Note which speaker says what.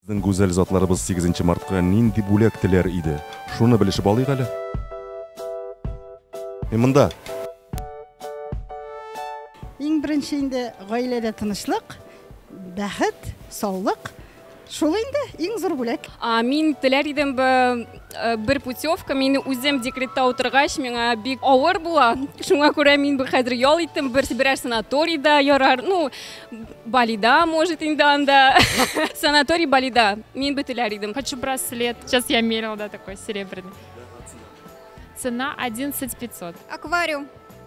Speaker 1: Безнең гүзәл затларыбыз 8 мартка нинди бүләк теләр иде? Шуны белешеп алыйк әле. Мен монда.
Speaker 2: Иң беренче инде гаиләдә тынычлык, бәхет, саулык, Шул инде иң зур бүләк. Мин теләр идем
Speaker 3: бер путевка, мин үзем декретта утыргач, миңа бик авыр була. Шуңа күрә мин хәзер ял иттем, бер берәр санаторийда ярар, ну, Балида, может, инде анда. Санаторий Балида, мин бит теләр идем. Хочу браслет. Сейчас
Speaker 4: я мерила, да, такой серебряный. Цена 11 500. Аквариум.